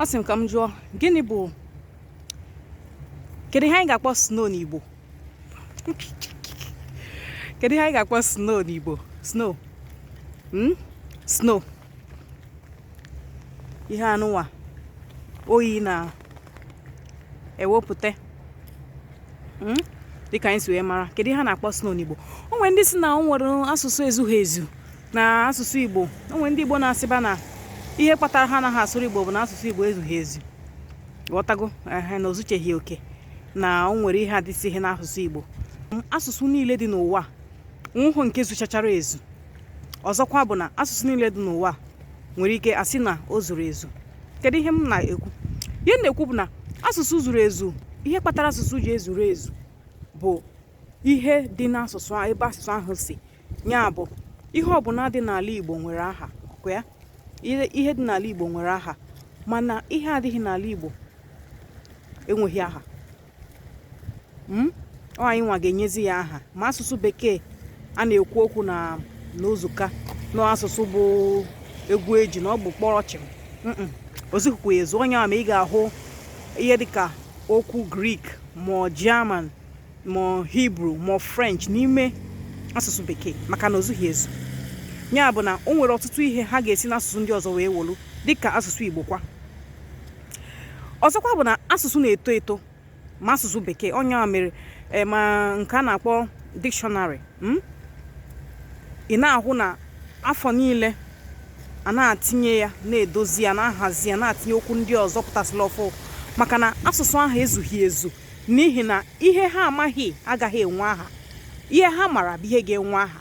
asị m ka m jụọ gịnị bụ kedu ihe anyị ga-akpọ snow n'Igbo kedu ihe anyị ga-akpọ snow n'Igbo snow hmm? snow ihe a nụwa oyi na-ewepụta hmm? dịka anyị si wee mara kedu ihe a na-akpọ snow n'Igbo o nwere ndị sị na o nwere asụsụ ezughị ezu na asụsụ Igbo o nwere ndị Igbo na-asịba na ihe kpatara ha anaghị asụrụ Igbo bụ na asụsụ Igbo ezughị ezu ghọtago ehe na o zucheghị oke na o nwere ihe adịsịghị n'asụsụ Igbo asụsụ niile dị n'ụwa o nwehụ nke zuchachara ezu ọzọkwa bụ na asụsụ niile dị n'ụwa nwere ike asị na o zuru ezu kedu ihe m na-ekwu ihe m na-ekwu bụ na asụsụ zuru ezu ihe kpatara asụsụ ji ezuru ezu bụ ihe dị n'asụsụ ebe asụsụ ahụ si ya bụ ihe ọbụla dị n'ala Igbo nwere aha ọkwa ya ihe dị n'ala Igbo nwere aha mana ihe adịghị n'ala Igbo enweghị aha hmm? ọ anyị nwa ga-enyezi ya aha ma asụsụ bekee a na-ekwu okwu na na o zuka na ọ asụsụ bụ egwu eji na ọ bụ kpọrọ chịm o zughịkwu ezu ọ nya me ị ga-ahụ ihe dịka okwu grik ma german ma hibru ma french n'ime asụsụ bekee maka na o zughị ezu ya bụ na o nwere ọtụtụ ihe ha ga-esi n'asụsụ ndị ọzọ wee wolu dịka asụsụ igbo kwa ọzọkwa bụ na asụsụ na-eto eto ma asụsụ bekee ọ nya mere eh, ma nke a na-akpọ dikshọnarị hmm? ị na-ahụ na afọ niile a na-atinye ya na-edozi ya na-ahazi ya na-atinye okwu ndị ọzọ pụtasịla ọfụ maka na asụsụ ahụ ezughị ezu n'ihi na ihe ha amaghị agaghị enwe aha ihe ha mara bụ ihe ga-enwe aha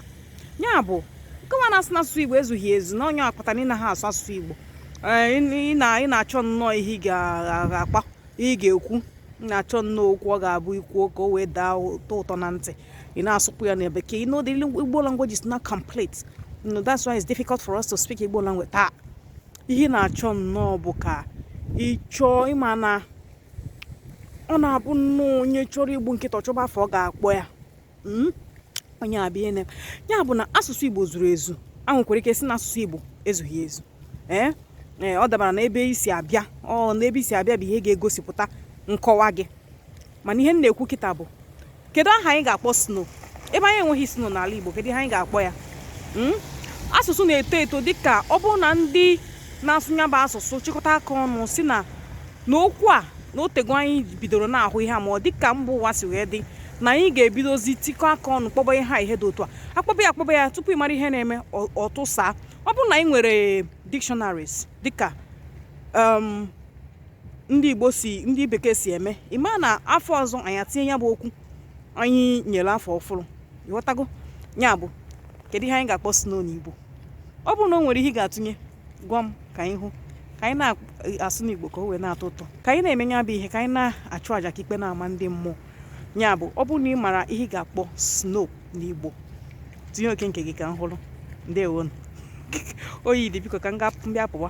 ya bụ nkọwa na-asị na asụsụ igbo ezughị ezu na ọ nya kpata na ị naghị asụ asụsụ igbo ị na-achọ nnọọ ihe ị ga-akpa ị ga-ekwu na-achọ nnọọ okwu ọ ga-abụ i kwuo ka o wee daa ụtọ ụtọ na ntị ị na-asụkwu ya na bekee you know the igbo language is not complete you know, that's why it's difficult for us to speak igbo language taa ihe ị na-achọ nnọọ bụ ka ị chọọ ị ma na ọ na-abụ nnọọ onye chọrọ igbu nkịta ọ chọba afa ọ ga-akpọ ya hmm? onye abịa ene ya bụ na asụsụ igbo zuru ezu a nwekwara ike sị na asụsụ igbo ezughị ezu ee eh? eh, ọ dabara na ebe i si abịa ọ na ebe i si abịa bụ ihe ga-egosipụta nkọwa gị mana ihe m na-ekwu kịta bụ kedu aha anyị ga-akpọ snow ebe anyị enweghị snow n'ala igbo kedu ihe anyị ga-akpọ ya hmm? asụsụ na-eto eto dịka ọ bụrụ na ndị na-asụ nya bụ asụsụ chịkọta aka ọnụ sị na n'okwu a na otego anyị bidoro na-ahụ ihe a ma ọ dị ka mba ụwa si wee dị na anyị ga-ebidozi tikọ aka ọnụ kpọba ihe ha ihe dị otu a a kpọba ya a kpọba ya tupu ị mara ihe na-eme ọ tụsaa ọ bụrụ na anyị nwere dictionaries dịka um, ndị igbo si ndị bekee si eme ị ma na afọ ọzọ anyị atinye ya bụ okwu anyị nyere afa ọfụrụ ị ghọtago ya bụ kedu ihe anyị ga-akpọ snow n'igbo ọ bụrụ na o nwere ihe ị ga-atụnye gwa m ka anyị hụ ka anyị na-asụ n'igbo ka o wee na-atọ ụtọ ka anyị na-eme ya bụ ihe ka anyị na-achụ àjà ka ikpe na-ama ndị mmụọ ya bụ ọ bụrụ na ị mara ihe ị ga-akpọ snow n'igbo tinye oke nke gị ka m hụrụ ndewonu oyi dị biko ka m bịa pụwa